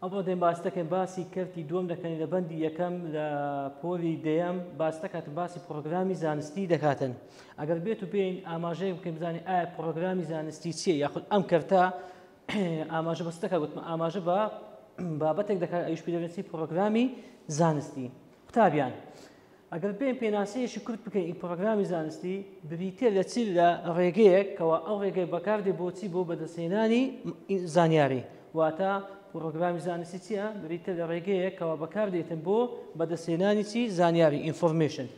ئەمڕۆ دێن باس دەکەین باسی کەرتی دووەم دەکەین لە بەندی یەکەم لە پۆلی دەیەم باس دەکاتن باسی پرۆگرامی زانستی دەکاتن ئەگەر بێت و پێین ئاماژەیە بکەین بزانانی ئایا پرۆگرامی زانستی چیە یاخود ئەم کەرتە ئاماژە بەس دەکات وتمە ئاماژە بە بابەتێک دەکات ئەوش پێدەێنسی پرۆگرامی زانستی قوتابیان ئەگەر بێین پێناسەیەکی کورت بکەین ئی پڕۆگرامی زانستی بریتیە لە چی لە ڕێگەیەک کەوا ئەو ڕێگەی بەکاردێ بۆ چی بۆ بەدەستهێنانی زانیاری واتە پڕۆگرامی زانستی چیە بریتە لە ڕێگەیەک کەوا بەکاردێتن بۆ بەدەستهێنانی چی زانیاری ئینفۆرمێشن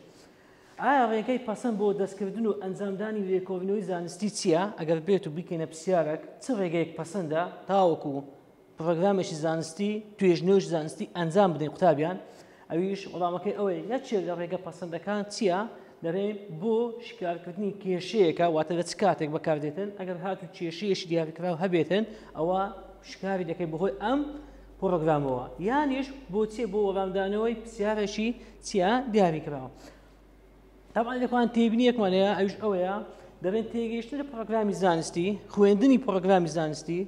ئایا ڕێگەی پەسەند بۆ دەستکردن و ئەنجامدانی لێکۆڵینەوەی زانستی چییە؟ ئەگەر بێت و بیکەینە پرسیارێک چ ڕێگەیەک پەسەندە تاوەکو پڕۆگرامێکی زانستی توێژنەوەش زانستی ئەنجام بدەین قوتابیان ئەویش وڵامەکەی ئەوەی نەچێت لە ڕێگە پەسەندەکان چییە دەرێ بۆ شکارکردنی کێشەیەەکە واتە لە چ کاتێک بەکاردێتن ئەگەر هات و کێشەیەش دیارکراو هەبێتن ئەوە شکاری دەکەی بەهۆی ئەم پرۆگرامەوە یانیش بۆچێ بۆ وەڵامدانەوەی پرسیارەشی چیا دیاری کراوە تاوان لەخوان تێبینیەکمان هەیە ئەوش ئەوەیە دەبێت تێگەیشتن لە پرۆگرامی زانستی خوێندنی پرۆگرامی زانستی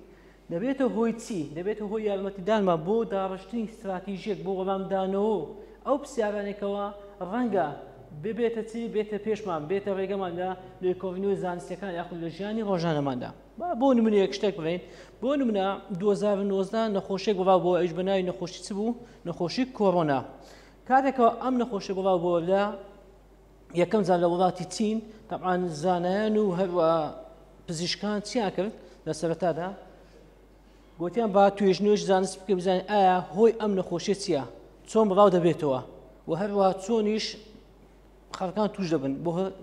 دەبێتە هۆی چی؟ دەبێتە هۆی یارمەتیدانمان بۆ داڕشتنی ستراتیژیەک بۆ وەڵامدانەوە و ئەو پرسیارانەی کەوا ڕەنگە ببێتە چی بێتە پێشمان بێتە ڕێگەمان لە لێکۆڵینەوە زانستیەکان یاخود لە ژیانی ڕۆژانەماندا با بۆ نمونەیەک شتێک بڵێین بۆ نمونە 2019 نەخۆشیێک بڵاو بۆ ئەوش بەناوی نەخۆشی چ بوو نەخۆشی کۆرۆنا کاتێکەوە ئەم نەخۆشی بڵاو بۆ لە یەکەم جار لە وڵاتی چین تەعاان زانایان و هەروە پزیشکان چیان کرد لە سەرەتادا گوتیان با توێژ نوێش زانست بکە بزانین ئایا هۆی ئەم نەخۆشیە چییە چۆن بڵاو دەبێتەوە و هەروە چۆنیش خەڵکان توش دەبن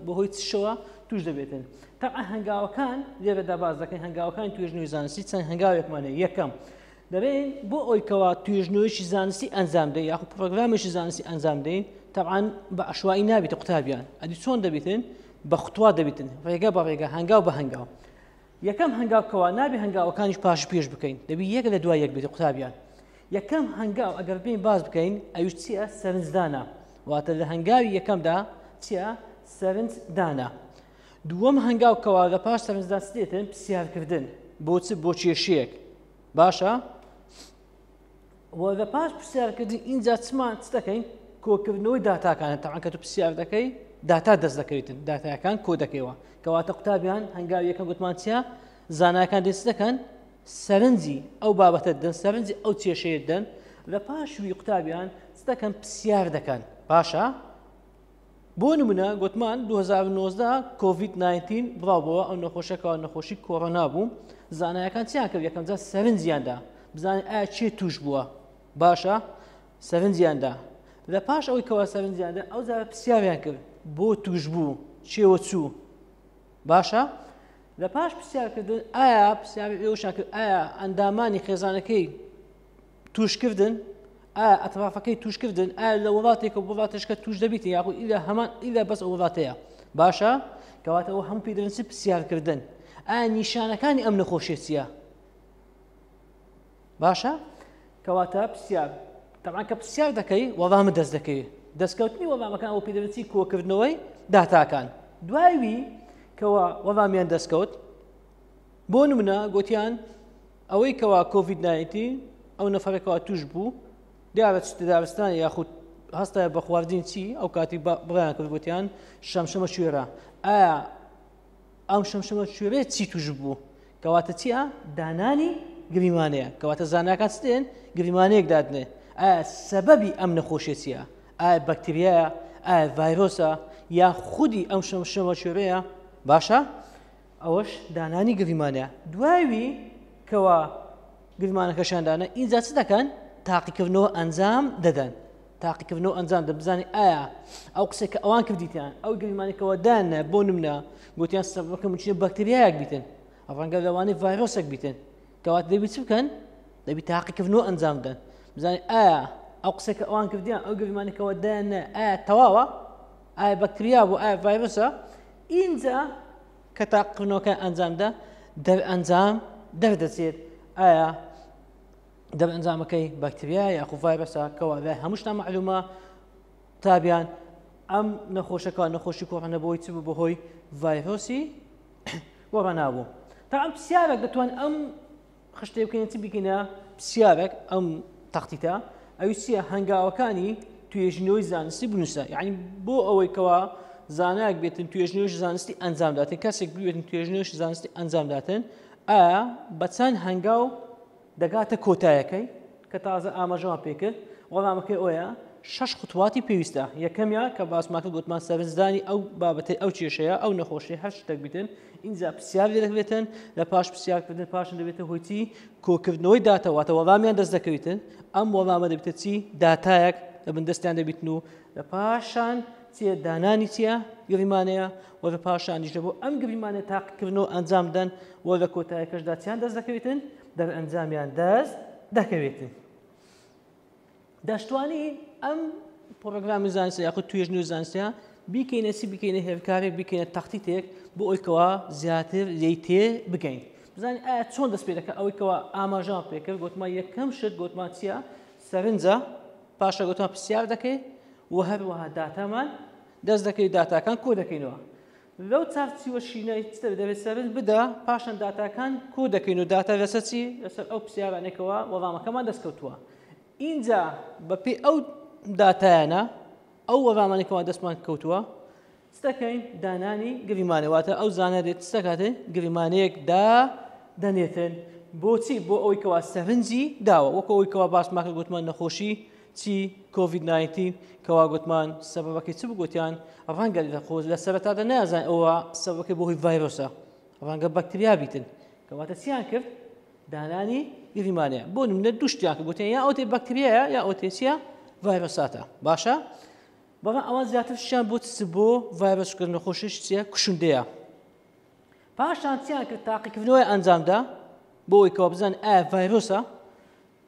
بەهۆی چشەوە توش دەبێتن تەعا هەنگاوەکان لێرەدا باز دەکەین هەنگاوەکان توێژ نوێ زانستی چەند هەنگاوێکمانە یەکەم دەڵێن بۆ ئەوی کەوا توێژنەوەیەکی زانستی ئەنجام دەی یاخو پرۆگرامێکی زانستی ئەنجام دەی تەعاان بە عشوایی نابیتە قوتابیان ئەدی چۆن دەبیتن بە خوتوا دەبیتن ڕێگە بە ڕێگە هەنگاو بە هەنگاو یەکەم هەنگاو کەوا نابی هەنگاوەکانیش پاش پێش بکەین دەبی یەک لە دوای یەک بێت قوتابیان یەکەم هەنگاو ئەگەر بین باز بکەین ئەوش چییە سەرنجدانە واتە لە هەنگاوی یەکەمدا چییە سەرنج دانا دووەم هەنگاو کەوا لە پاش سەرنجداسێتن پرسیارکردن بۆچ بۆ کێشەیەک باشە وەگە پاش پرسیارکردن ئینجا چمان چ دەکەین کۆکردنەوەی داتاکانە تاعاکە تو پرسیار دەکەی داتا دەست دەکەویتن داتایەکان کۆ دەکەیەوە کەواتە قوتابیان هەنگاو یەکە گوتمانچە زاناکان دەست دەکەن سەرنجی ئەو بابەتە دەن سەرنجی ئەو کێشەیە دەن لە پاشوی قوتابیان دەکەن پرسیار دەکەن باشە بۆ نمونە گوتمان 2019 کۆڤید 19 بڵاو بووە ئەو نەخۆشە کاوە نەخۆشی کۆرۆنا بوو زانایەکان چیان کرد یەکەمجار سەرنجیاندا بزانین ئایا چێ توش بووە باشە سەرنجیاندا لە پاش ئەوەی کەوا سەرنجیاندا ئەو زارە پرسیاریان کرد بۆ توش بوو چێوە چوو باشە لە پاش پرسیارکردن ئایا پرسیاری ئێوشان کرد ئایا ئەندامانی خێزانەکەی توشکردن ئایا ئەترافەکەی توشکردن ئایا لە وڵاتێکە وڵاتشکە توش دەبیت یاخو ئیلا هەمان ئیلا بەس وڵاتەیە باشە کەواتەوە هەم پیدرنسی پرسیارکردن ئایا نیشانەکانی ئەم نەخۆشیە چییە باشە کەواتە پرسیار تەمان کە پرسیار دەکەی وەڵامە دەست دەکەی دەستکەوتنی وەڵامەکان ئەو پیدرنسی کۆکردنەوەی داتاکان دوایوی کەەوە وەڵامیان دەستکەوت بۆ نمونە گوتیان ئەوەی کەوا کۆڤید ناینتین ئەو نەفەرە کەوا توش بوو دیارە چتە دارستان یاخود هەستای بە خواردین چی ئەو کاتی بڕیان کرد گوتیان شەمشەمە شوێرە ئایا ئەم شەمشەمە شوێرە چی توش بوو کەواتە چیە دانانی گریمانەیە کەواتە زاناکان چێن گریمانەیەک دادنێ ئایا سەبەبی ئەم نەخۆشیە چیە ئایا بەکتریایە ئایا ڤایرۆسە یا خودی ئەم شەمشەمە شوێرەیە باشە ئەوەش دانانی گریمانەیە دوای کەوا گریمانەکەشیان دانا ئینجا چ دەکەن تاقیکردنەوە ئەنجام دەدەن تاقیکردنەوە ئەنجام دە بزانانی ئایا ئەو قسێک کە ئەوان کردیتیان ئەو گریمانێکەوە دانە بۆ نمنا گوتیان سەبەکە مچێ بەکتریایەک بیتن ڕەنگە لەوانی ڤایرۆسێک بیتن کەوات دەبی چ بکەن دەبی تاقیکردنەوە ئەنجام بدەن بزانانی ئایا ئەو قسێکە ئەوان کردیان ئەو گریمانێکەوە دانە ئایا تەواوە ئایا بەکتریا بوو ئایا ڤایرۆسە ئینجا کە تاقکردنەوەکە ئەنجامدا دەرئەنجام دەردەچێت ئایا دەرئەنجامەکەی بەکتریا یاخو ڤایرۆسە کەوا لای هەمووشتا معلومە تابیان ئەم نەخۆشەکە نەخۆشی کۆڕەنە بۆی چ بوو بەهۆی ڤایرۆسی وەڕەنابوو تا ئەم پرسیارە دەتوان ئەم خشتەی بکەین چی بگینە پرسیارێک ئەم تەختیتە ئەوی چییە هەنگاوەکانی توێژینەوەی زانستی بنووسە یعنی بۆ ئەوەی کەوا زانایك بێتن توێژنوێژ زانستی ئەنجامداتن کەسێک بێتن توێژنوێژ زانستی ئەنجامداتن ئا بە چەند هەنگاو دەگاتە کۆتایەکەی کە تازە ئاماژەوان پێکرد وەڵامەکەی ئۆیە شش خطواتی پێویستە یەکەمیا کە باسماکە گوتمان سەرنجدانی ئەو بابەتی ئەو کێشەیە ئەو نەخۆشی هەر شتێک بتن ئینجا پرسیار لێ دەکرێتن لە پاش پرسیارکردن پاشن دەبێتە هۆی چی کۆکردنەوەی داتەواتە وەڵامیان دەست دەکەویتن ئەم وەڵامە دەبێتە چی داتایەک لە بندستیان دەبیتن و لە پاشان چیە دانانی چیە گریمانەیە و لە پاشانیش دەبوو ئەم گریمانە تاقکردن و ئەنجام دەن و لە کۆتایەکەشدا چیان دەست دەکەویتن دەرئەنجامیان دەست دەکەوێتن دەشتوانین ئەم پرۆگرامی زانستە یاخود توێژنی و زانستە بیکەینە چی بکەینە هێلکارێک بکەینە تەختیتێک بۆ ئەوکەوە زیاتر لی تێ بگەین بزانین ئایا چۆن دەست پێ دەکە ئەوەیەوە ئاماژان پێکرد گوتمان یەکەم شت گوتمان چییە سەرنجە پاشە گوتمان پرسیار دەکەی و هەروەها داتامان دەست دەکەی داتاکان کۆ دەکەینەوە لەو چارچیوە شینەی چ دەبێت دەبێت سەرنج بدە پاشان داتاکان کۆ دەکەین و داتا لەسەر چی لەسەر ئەو پرسیارانێکەوە وەڵامەکەمان دەستکەوتووە ئینجا بەپێی ئەو داتایانە ئەو وەڵامانێکەوە دەستمان کەوتووە چ دەکەین دانانی گریمانە واتە ئەو زانە دێت چ دەکاتێ گریمانەیەک دا دەنێتن بۆچی بۆ ئەوەی کەوا سەرنجی داوە وەکو ئەوەی کەوا باسماکە گوتمان نەخۆشی چی کۆڤید ناینتین کەوا گوتمان سەبەبەکەی چ بگوتیان ڕەنگە لە خۆ لە سەرەتادا نازان ئەوە سەبەکەی بۆ هۆی ڤایرۆسە ڕەنگە بەکتریا بیتن کەواتە چیان کرد دانانی گریمانەیە بۆ نمونە دوشتیان کە گوتیان یا ئەوتێ بەکتریایە یا ئەوتێچیە ڤایرۆساتە باشە بەڵام ئەوان زیاتر شیان بۆ چ بۆ ڤایرۆسکرد نەخۆشیش چیە کوشندەیە پاشان چیان کرد تاقیکردنەوەی ئەنجامدا بۆ ئەوی کەوا بزان ئایا ڤایرۆسە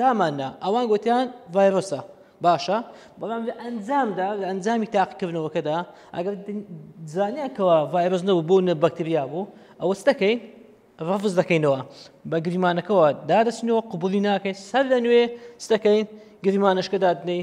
دامان نا ئەوان گوتیان ڤایرۆسە باشە بەڵام لە ئەنجامدا لە ئەنجامی تاقیکردنەوەکەدا ئەگەر زانیان کەەوە ڤایرۆس نەبوو بوو نە بەکتریا بوو ئەوە دەکەین ڕفز دەکەینەوە بە گریمانەکەەوە دادەچنەوە قوبولی ناکەین سەر لە نوێ دەکەین گریمانشکە دادنەی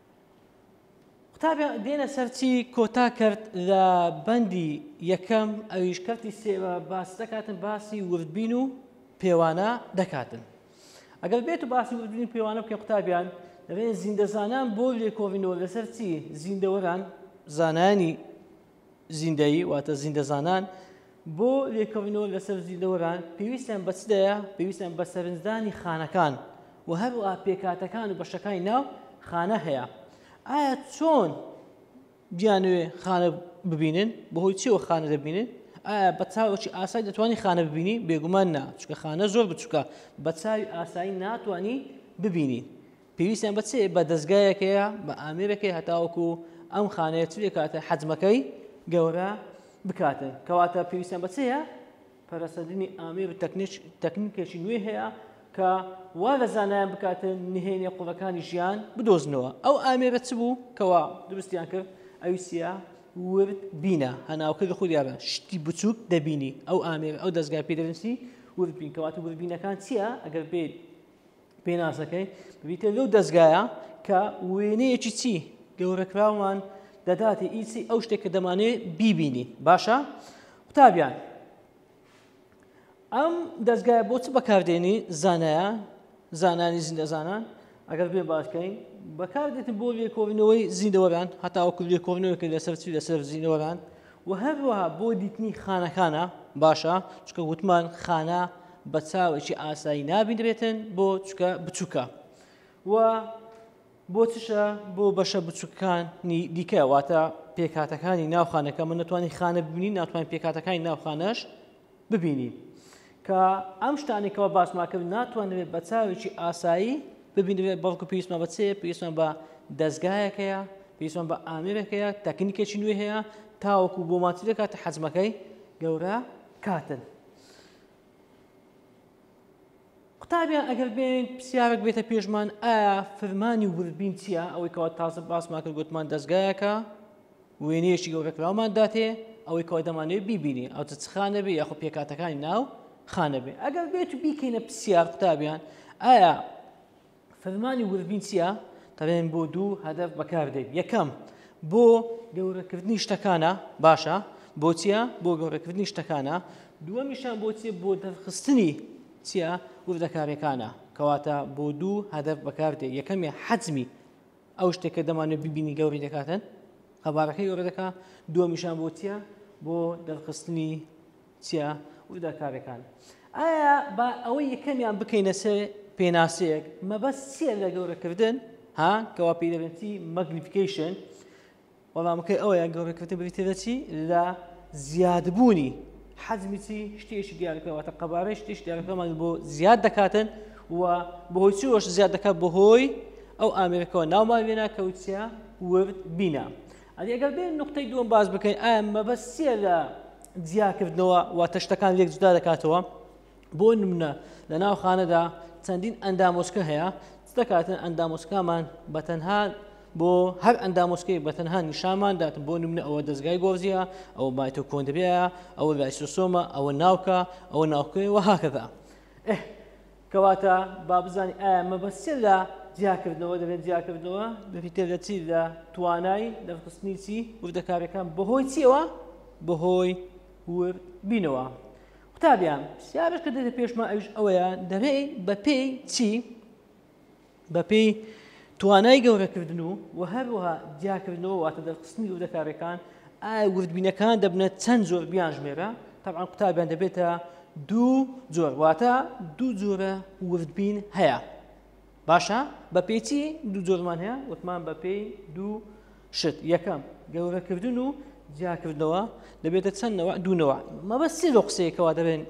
قوتابیان دێنە سەر چی کۆتا کرد لە بەندی یەکەم ئەویش کەرتی سێوە باس دەکاتن باسی وردبین و پێوانە دەکاتن ئەگەر بێت و باسی وردبین و پێوانە بکە قوتابیان دەبێت زیندەزانان بۆ لێکۆڵینەوە لەسەر چی زیندەوەران زانانی زیندەیی واتە زیندەزانان بۆ لێکەوینەوە لەسەر زیندەوەران پێویستیان بە چدەیە پێویستیان بە سەرنجدانی خانەکان و هەروە پێکاتەکان و بەشەکانی ناو خانە هەیە ئایا چۆن بیانوێ خانە ببینن بەهۆی چیەوە خانە دەبینن ئایا بە چاوەکی ئاسای دەتوانانی خانە ببینی بێگومان نا چکە خانە زۆر بچووکە بە چاوی ئاسایی ناتوانانی ببینی پێویستیان بە چێ بە دەستگایەک هەیە بە ئامێرێک هەیە هەتاوەکو ئەم خانەیە چ بکاتە حەجمەکەی گەورە بکاتن کەواتە پێویستیان بە چێە پەرەسەندنی ئامێر و تەکنیکێکی نوێ هەیە کە وا لە زانایان بکاتن نهێنێ قوڵەکانی ژیان بدۆزنەوە ئەو ئامێرە چ بوو کەوا دروستیان کرد ئەویسیە ورد بینە هەناوکە لە خودیابە شتی بچووک دەبینی ئەو ئامێر ئەو دەستگای پێدەنسی وردبین کەواتە وردبینەکان چییە ئەگەر بێت پێناسەکەی ببیتە لەو دەستگایە کە وێنەیەکی چی گەورەکراومان دەداتی ئیسی ئەو شتێک کە دەمانێ بیبینی باشە قوتابیان ئەم دەستگایە بۆ چ بەکاردێنی زانایە زانانی زیندەزانان ئەگەر بێ باشکەین بەکاردێتن بۆ لێکۆڵینەوەی زیندەوەران هەتاوەکو لێکۆڵینەوەکە لەسەر چی لەسەر زیینەوەران وە هەروەها بۆ دیتنی خانەکانە باشە چکە وتمان خانە بە چاوێکی ئاسایی نابینرێتن بۆ چکە بچووکە و بۆ چشە بۆ بەشە بچووکانی دیکە واتە پێکاتەکانی ناوخانەکە من نتوانانی خانە ببینی ناتوانین پێکاتەکانی ناوخانەش ببینین کە ئەم شتانی کەەوە باسمان کرد ناتوانێت بە چاوێکی ئاسایی ببینێت بەڵکو پێویستمان بە چێ پێویستمان بە دەستگایەک هەیە پێویستمان بە ئامێرێک هەیە تەکنیکێکی نوێ هەیە تاوەکو بۆ ماچی دەکاتە حەجمەکەی گەورە کاتن قوتابیان ئەگەر بێنین پرسیارێک بێتە پێشمان ئایا فرمانی وردبین چییە ئەوەی کەوا تازە باسمان کرد گوتمان دەستگایەکە وێنەیەکی گەورە کراومان داتێ ئەوەی کەوا دەمانەوێت بیبینی ئەو چ خانە بێ یاخۆ پێکاتەکانی ناو خانە بێ ئەگەر بێت و بیکەینە پرسیار قوتابیان ئایا فرمانی وردبین چییە؟ دەڵێن بۆ دوو هەدەف بەکاردێت یەکەم بۆ گەورەکردنی شتەکانە باشە بۆچیە بۆ گەورەکردنی شتەکانە دووەمیشان بۆچیە بۆ دەرخستنی چییە وردەکاریەکانە کەواتە بۆ دوو هەدەف بەکاردێت یەکەمی حەجمی ئەو شتێکە دەمانێت ببینی گەوری دەکاتن قەبارەکەی گەورە دەکات دووەمیشان بۆچیە بۆ دەرخستنی چیە وردەکاریەکان ئایا با ئەوە یەکەمیان بکەینە سێ پێناسەیەک مەبەست چیە لە گەورەکردن ها کەوا پێی دەبێتی مەگنیفیکیشن وەڵامەکەی ئەوەیە گەورەکردن بریتە دەچی لە زیادبوونی حەزمی چی شتێکی دیارەکەواتە قەبارەی شتیش دیارەکەمان بۆ زیاد دەکاتن و بەهۆی چۆش زیاد دەکات بەهۆی ئەو ئامرەکەەوە ناومان وێنا کەوتە ورد بینا ئەگەر بێن نقطەی دووەم باز بکەین ئایا مەبەست چیە لە جیاکردنەوە واتە شتەکان لێک جودا دەکاتەوە بۆ نمونە لە ناو خانەدا چەندین ئەندامۆچکە هەیە دەکاتن ئەندامۆچکامان بە تەنها بۆ هەر ئەندامۆچکەی بە تەنها نیشامان دات بۆ نمونە ئەوە دەستگای گۆزیە ئەو بایتۆ کۆندریایە ئەوە لایسۆسۆمە ئەوە ناوکە ئەوە ناوکەی وەهاکەدا کەواتە با بزانین ئایا مەبەست چیە لە جیاکردنەوە دەبێت جیاکردنەوە بریتیە لە چی لە توانای دەرخستنی چی وردەکاریەکان بەهۆی چیەوە بەهۆی ورد بینەوە قوتابیان پرسیارش کە دێتە پێشمان ئەوش ئەوەیە دەبێت بەپێی چی بەپێی توانای گەورەکردن و و هەروەها جیاکردنەوە واتە دەرخستنی وردەکارەکان ئایا وردبینەکان دەبنە چەند جۆر بیان ژمێرە تەبعا قوتابیان دەبێتە دوو جۆر واتە دوو جۆرە وردبین هەیە باشە بە پێچی دوو جۆرمان هەیە وتمان بە پێی دوو شت یەکەم گەورەکردن و جیاکردنەوە دەبێتە چەندەوە دوونەوە مەبەستی لە قسەیەکەوە دەبێن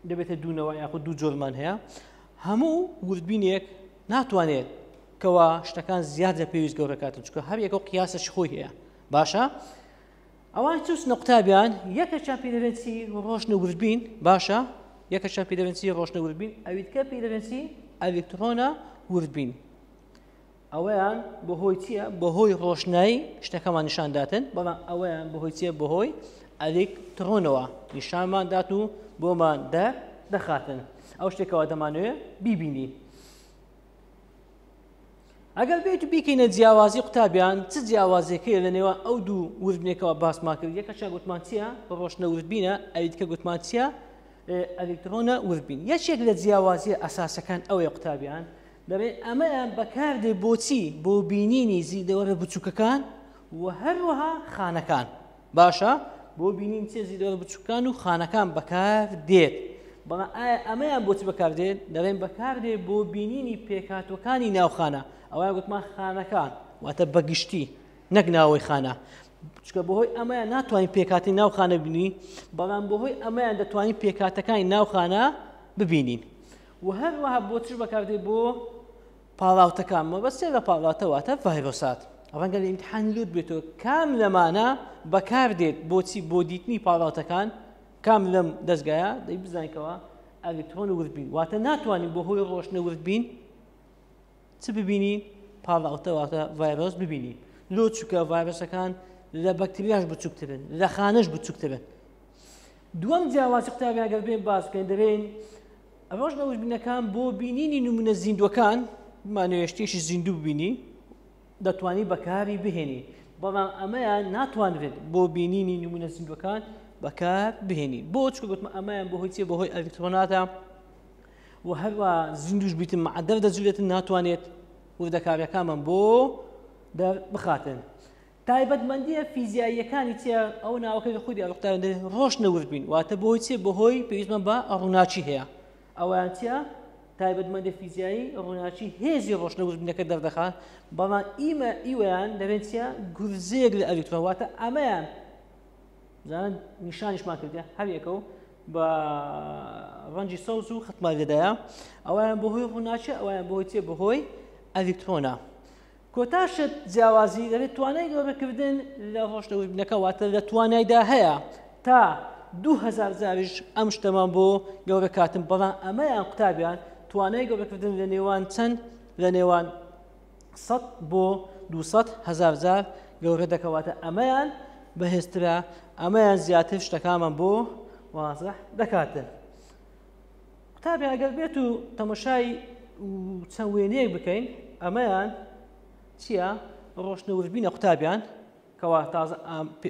دەبێتە دوو نەوە یاخود دوو جۆرمان هەیە هەموو وردبینێک ناتوانێت کەوا شتەکان زیاد لە پێویست گەورەکاتن چکە هەر یەکە و قیاسەش خۆی هەیە باشە ئەوان چوس نقطتابیان یەکە چا پیرەنسی ڕۆشنە وردبین باشە یەکە چا پیرەنسی ڕۆشنە وردبین ئەویتکە پیرەنسی ئەلکترۆنە وردبین ئەوەیان بەهۆی چییە بەهۆی ڕۆشنایی شتەکەمان نیشان داتن بەڵام ئەوەیان بەهۆی چیە بەهۆی ئەلیک تڕۆنەوە نیشانمان دات و بۆمان دە دەخاتن ئەو شتێکەوە دەمانوێ بیبینی ئەگەر بێت و بیکەینە جیاوازی قوتابیان چ جیاوازەکەی لە نێوان ئەو دوو وردنێکەوە باسمان کرد یەکە چا گوتمان چییە بە ڕۆشنە وردبینە ئەلیتکە گوتمان چییە ئەلیکترۆنە وردبین یەکێک لە جیاوازیە ئەساسەکان ئەوەیە قوتابیان دەڵێت ئەمەیان بەکاردێت بۆ چی؟ بۆ بینینی زیندەوەرە بچووکەکان و هەروەها خانەکان. باشە بۆ بینین چێ زیندەوەرە بچووکەکان و خانەکان بەکاردێت. بەڵام ئایا ئەمەیان بۆچی بەکاردێت؟ دەڵێن بەکاردێت بۆ بینینی پێکهاتوەکانی ناو خانە. ئەوەیان گوتمان خانەکان واتە بەگشتی نەک ناوەی خانە. چکە بەهۆی ئەمەیان ناتوانین پێکاتی ناو خانە ببینین بەڵام بەهۆی ئەمەیان دەتوانین پێکاتەکانی ناو خانە ببینین. وە هەروەها بۆ چ بەکاردێ بۆ پاڵاوتەکان مەبەستێ لە پاڵاتە واتە ڤایرۆسات ڕەنگە لە ئیمتحان لوت بێتەوە کام لەمانە بەکاردێت بۆچی بۆ دیتنی پاڵاتەکان کام لەم دەستگایە دەی بزانکەوە ئەلیکترۆن ورد بین واتە ناتوانین بۆ هۆی ڕۆشنە ورد بین چ ببینی پاڵاوتە واتە ڤایرۆس ببینی لۆ چووکە ڤایرۆسەکان لە بەکتریاش بچووکترن لە خانش بچووکترن دووەم جیاواز قوتابیان گەر بێن باس بکەین دەبین ڕۆژ لە وژبینەکان بۆ بینینی نمونە زیندوەکان مانوێشتێکی زیندوو ببینی دەتوانی بەکاری بهێنی بەڵام ئەمەیان ناتوانرێت بۆ بینینی نمونە زیندوەکان بەکار بهێنی بۆ چکە گوتمە ئەمەیان بەهۆی چێ بەهۆی ئەلکترۆناتە و هەروا زیندوش بیتن مع دەر دەجولێتن ناتوانێت وردەکاریەکانمان بۆ دەر بخاتن تایبەتمەندیە فیزیاییەکانی چێ ئەو ناوەکە لە خودی ئەڵقتان ڕۆژ نەورد بین واتە بۆی چێ بەهۆی پێویستمان بە ڕووناچی هەیە ئەویان چە تایبەتمەندی فیزیایی ڕووناچی هێزی ڕۆشنەوردبینەکە دەردەخات بەڵام ئیمە ئیوەیان دەبێت چە گورزێک لە ئەلیکترۆواتە ئەمەیان زان نیشانیشمان کردێ هەر یەکە و بە ڕەنجی سەوز و خەتماگەدایە ئەویان بەهۆی ڕووناچە ئەویان بۆی چێ بەهۆی ئەلیکترۆنا کۆتاشت جیاوازی دەبێت توانای گەورەکردن لە ڕۆشتەوەبنەکە واتە لە توانایدا هەیە تا دوهزار زاویش ئەم شتەمان بۆ گەورە کاتم بەڵام ئەمەیان قوتابیان توانای گەورەکردن لە نێوان چەند لە نێوان سەد بۆ دوو سەد هەزار جار گەورەدەکەواتە ئەمەیان بەهێزترە ئەمەیان زیاتر شتەکانمان بۆ وازە دەکاتن قوتابی ئەگەر بێت و تەمەشای چەند وێنەیەک بکەین ئەمەیان چییە ڕۆشنە وژبینە قوتابیان کەوا تازە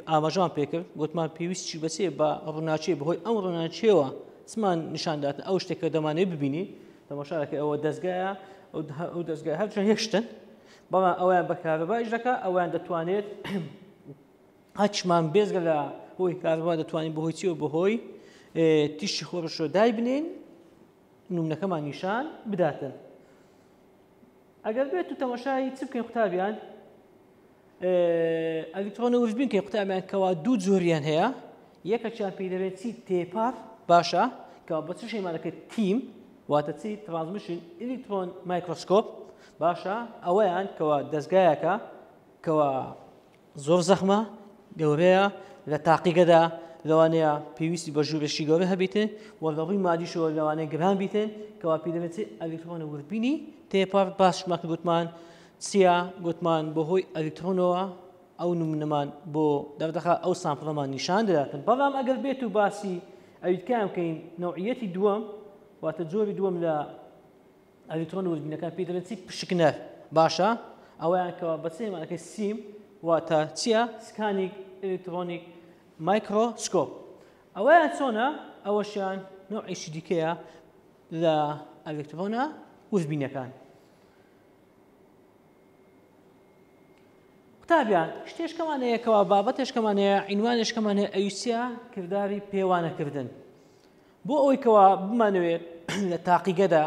ئاماژەمان پێکرد گوتمان پێویست چی بەچێ بە ڕووناچێ بەهۆی ئەم ڕووناچێەوە چمان نیشانداتن ئەو شتێکە دەمانێ ببینی تەماشارەکە ئەوە دەستگایە ئەو دەستگای هەر هێشتن بەڵام ئەویان بەکارەبایش دەکە ئەویان دەتوانێت هەچمان بێزگە لە هۆی کارەبا دەتوانین بەهۆی چیەوە بەهۆی تیشی خۆرشۆ دای بنین نومنەکەمان نیشان بداتن ئەگەر بێت و تەماشایی چ بکەین قوتابیان ئەگەر توانە ورژبین کە قوتابیان کەوا دوو جۆریان هەیە یەکەکیان پێی دەبێت چی تێپار باشە کە بە چ شێمانەکە تیم واتە چی ترانزمیشن ئلیکترۆن مایکرۆسکۆپ باشە ئەوەیان کەوا دەستگایەکە کەوا زۆر زەخمە گەورەیە لە تاقیگەدا لەوانەیە پێویستی بە ژوورێکی گەورە هەبیتێ و لە ڕووی مادیشەوە لەوانەیە گران بیتێن کەوا پێدەێت ئەلیکترۆنە وربینی تێپەڕ باشمەکە گوتمان سیا، گوتمان بەهۆی ئەلیکترۆنەوە ئەو نمونەمان بۆ دەردەخا ئەو سامپڵەمان نیشان دەداتن بەڵام ئەگەر بێت و باسی ئەویتکان بکەین نەوعیەتی دووەم واتە جۆری دووەم لە ئەلیکترۆن وردبینەکان پێ دەڵێن چی پشکنەر باشە ئەویان کەوا بەچێمانەکەی سیم واتە چییە سکانیک ئەلیکترۆنیک مایکرۆسکۆپ ئەویان چۆنە ئەوەشیان نەوعیشی دیکەیە لە ئەلیکترۆنە وردبینەکان قوتابیان شتێشکەمان هەیە کەوا بابەتێشکەمان هەیە عینوانێشکەمان هەیە ئەویسە کردداری پێوانەکردن بۆ ئەوەی کەوا بمانەوێت لە تاقیگەدا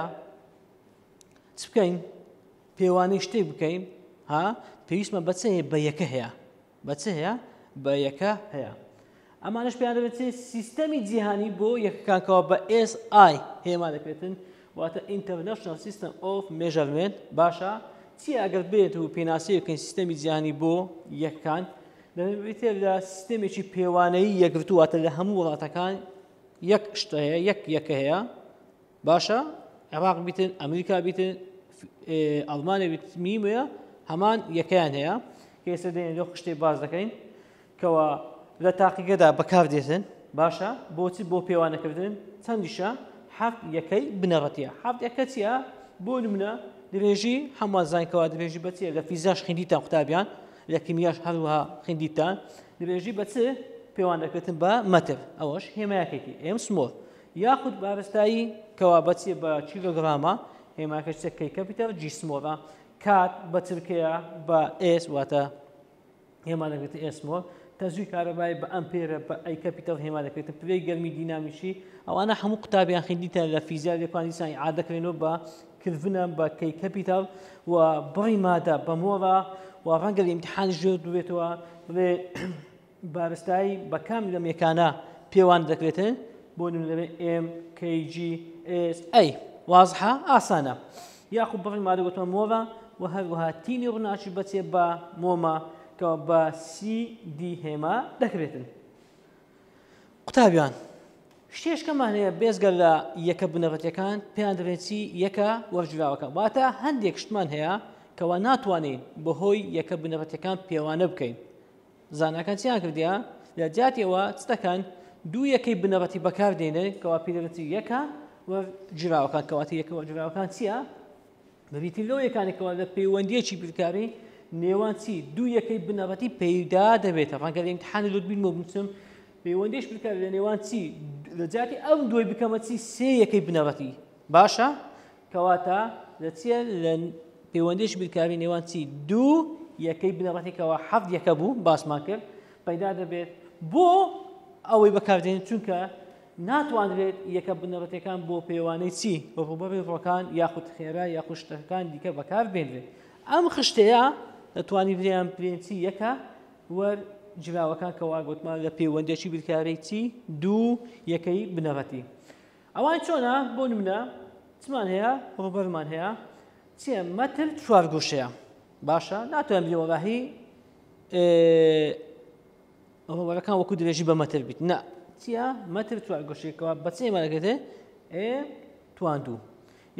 چ بکەین پێوانەی شتێک بکەین ها پێویستمە بەچەیە بە یەکە هەیە بە چ هەیە بە یەکە هەیە ئەمانش پێیان دەبێت سیستەمی جیهانی بۆ یەکەکانکەوە بە SI هێما دەکرێتن واتە ئینتەرنشنل سیستم ئۆف مێژەرمێنت باشە چی ئەگەر بێت و پێناسی بکەین سیستەمی جیهانی بۆ یەکەکان دەبێتێ لە سیستەمێکی پێوانەی یەکگرتوواتە لە هەموو وڵاتەکان یەک شتەیە یەک یەکە هەیە باشە عێراق بیتن ئەمریکا بیتن ئەڵمانە بیتمی وەیە هەمان یەکەیان هەیە ئێستا دێن لۆ خشتێ باز دەکەین کەەوە لە تاقیگەدا بەکار دێتن باشە بۆچی بۆ پێوانەکردن چەندیشە حەفت یەکەی بنەڕەتە حەفت یەکە چیە بۆ نمونە درێژی هەمان زانکەوە درێژی بەچیە لە فیزاش خیندیتان قوتابیان لە کیمیاش هەروەها خیندیتان درێژی بەچ پێوانەکردن بە مەتر ئەوەش هێمایەکێکی ئێم سمۆر یاخود بارستایی کە وابەچیە بە کیلۆگرامە، هێماکە چە کەی کەپیتەر جی سمۆڵە، کات بە ترکەیە بە ئێس واتە هێما دەگرێتە ئێس مۆڵ، تەزوی کارەبای بە ئەمپێرە بە ئەی کەپیتەر هێما دەکرێتە پلەی گەرمی دینامیکی، ئەوانە هەموو قوتابیان خیندیتە لە فیزیا لێکوان دیسان عادەکرێنەوە بە کلڤنە بە کەی کەپیتەر و بڕی مادە بە مۆڵە و ڕەنگە لە ئیمتحانیش جوێت ببێتەوە بڵێ بارستایی بە کام لەم یەکانە پێوان دەکرێتن بۆ نمونەبێ ئێم کەیجی ئێس ئەی وازحە ئاسانە یاخو بڕی مادەگوتۆ مۆڤە و هەروەها تینی ڕناچی بەچێ بە مۆمە کە بە سی دی هێما دەکرێتن قوتابیان شتێشکەمان هەیە بێزگەر لە یەکە بنەڕەتەکان پێیان دەبێتی یەکە وەرجراوەکە واتە هەندێک شتمان هەیە کەوا ناتوانین بەهۆی یەکە بنەڕەتەکان پێوانە بکەین زاناکان چیان کردیا لە جیاتی ئەوە چ دەکەن دوو یەکەی بنەڕەتی بەکار دێنێ کەوا پیرەتی یەکە و جراوەکان کەواتی یەکەوە جراوەکان چییە بەبیتی لەو یەکانێکەوە لە پەیوەندیەکی بیرکاری نێوان چی دوو یەکەی بنەڕەتی پەیدا دەبێتە ڕەنگە لە امتحانی لوت بین بچم پەیوەندیش بکار لە نێوان چی لە جاتی ئەم دوای بکەمە چی سێ یەکەی بنەڕەتی باشە کەواتە لە چیە لە پەیوەندیش بیرکاری نێوان چی دوو یەکەی بنەڕەتێکەوە حەفت یەکە بوو باسمان کرد پەیدا دەبێت بۆ ئەوەی بەکاردێن چونکە ناتوانرێت یەکە بنەڕەتەکان بۆ پێوانەی چی بە ڕوبەڕی ڕۆکان یاخود خێرا یا خوشتەکان دیکە بەکار بێنرێت ئەم خشتەیە دەتوانانی بریان پرێنسی یەکە وەر جراوەکان کەوا گوتمان لە پەیوەندێکی بیرکارەی چی دوو یەکەی بنەڕەتی ئەوان چۆنە بۆ نمونە چمان هەیە ڕوبەرمان هەیە چیە مەتر چوار گوشەیە باشە ناتوان بی وەڵاهی ڕوبەرەکان وەکو درێژی بە مەتر بیت نە چیە مەتر چوار گوشێکەوە بەچێ مەرەگەێ ئێ تواندوو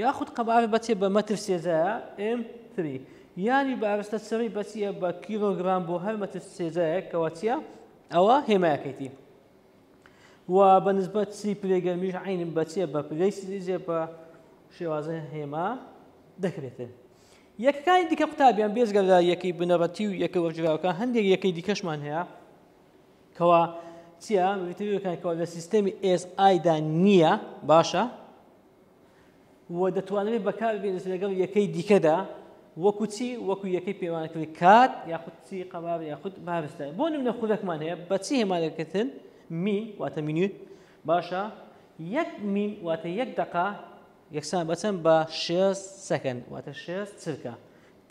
یاخود قەبار بەچێ بە مەتر سێزایە ئم تری یانی بارستە سڕی بەچیە بە کیلۆگرام بۆ هەر مەتر سێزایەکەوە چیە ئەوە هێمایەکەیتی و بە نسبەت سی پلەی گەرمیش عینم بەچێ بە پلەی سلیزێ بە شێوازە هێما دەکرێتن یەکەکانی دیکە قوتابیان بێزگە لە یەکەی بنەڕەتی و یەکە وەرجراوەکە هەندێک یەکەی دیکەشمان هەیە کەوا چیە وتەکان کەوا لە سیستەمی SI دا نییە باشە و دەتوانرێت بەکاربێنێت لەگەڵ یەکەی دیکەدا وەکو چی وەکو یەکەی پێوانەکردی کات یاخود چی قەبار یاخود بارستە بۆ نمونە خولەکمان هەیە بەچی هێمانەکردن مین واتە مینوت باشە یەک مین واتە یەک دقا یەکسان بەچەند بە شێست سەکەن واتە شێست چرکە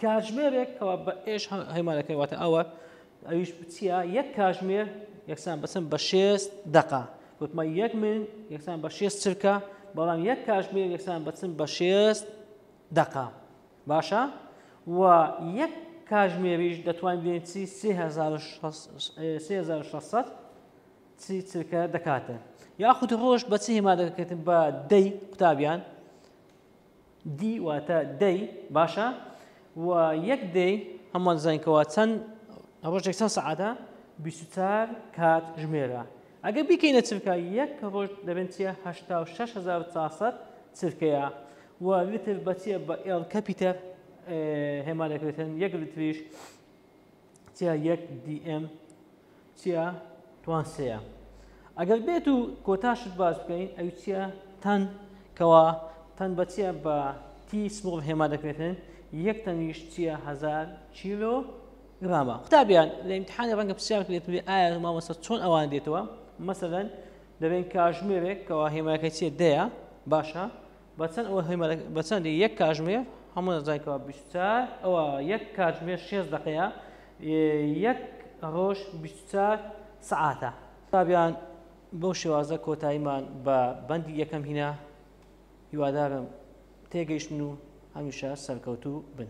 کاژمێرێک کەوا بە ئێش هەیمانەکەی واتە ئەوە ئەویش بچیە یەک کاژمێر یەکسان بەسم بە شێست دقا وتمە یەک من یەکسان بە شێست چرکە بەڵام یەک کاژمێر یەکسان بەچم بە شێست دقا باشە و یەک کاژمێریش دەتوانین بێن چی 1600 چی چرکە دەکاتن یاخود ڕۆژ بەچی هێما دەکەێتن بە دەی قوتابیان دی واتە دەی باشە و یەک دەی هەمووان زانین کەوا چەند ڕۆژێک چەند سەعاتە بیستار کات ژمێرە ئەگە بیکەینە چرکە یەک ڕۆژ دەبێن چیە هەشتا و شش هزار چاسەد چرکەیە و لتر بەچیە بە ئێڵ کەپیتەر هێما دەکرێتن یەک لتریش چیا یەک دی ئێم چیا توان سێە ئەگەر بێت و کۆتاشت باش بکەین ئەو چیا تەن کەوا تەن بە چیا بە تی سمڵ هێما دەکرێتن یەک تەنیش چیا هزار کیلۆ گرامە قوتابیان لە امتحانی ڕەنگە پرسیار کرێت بێ ئایا مامەسە چۆن ئەوان دێتەوە مەسەدەن دەبێن کاژمێرێک کەوا هێماکە چێ دەیە باشە بە چەند ئەوە هێمەرە بە چەندی یەک کاژمێر هەموو نەزای کەوا بیست و چار ئەوە یەک کاژمێر شێست دەقەیە یەک ڕۆژ بیست و چار سەعاتە تابیان بەو شێوازە کۆتاییمان بە بەندی یەکەم هینا هیوادارم تێگەیشتن و هەمیشە سەرکەوتوو بن.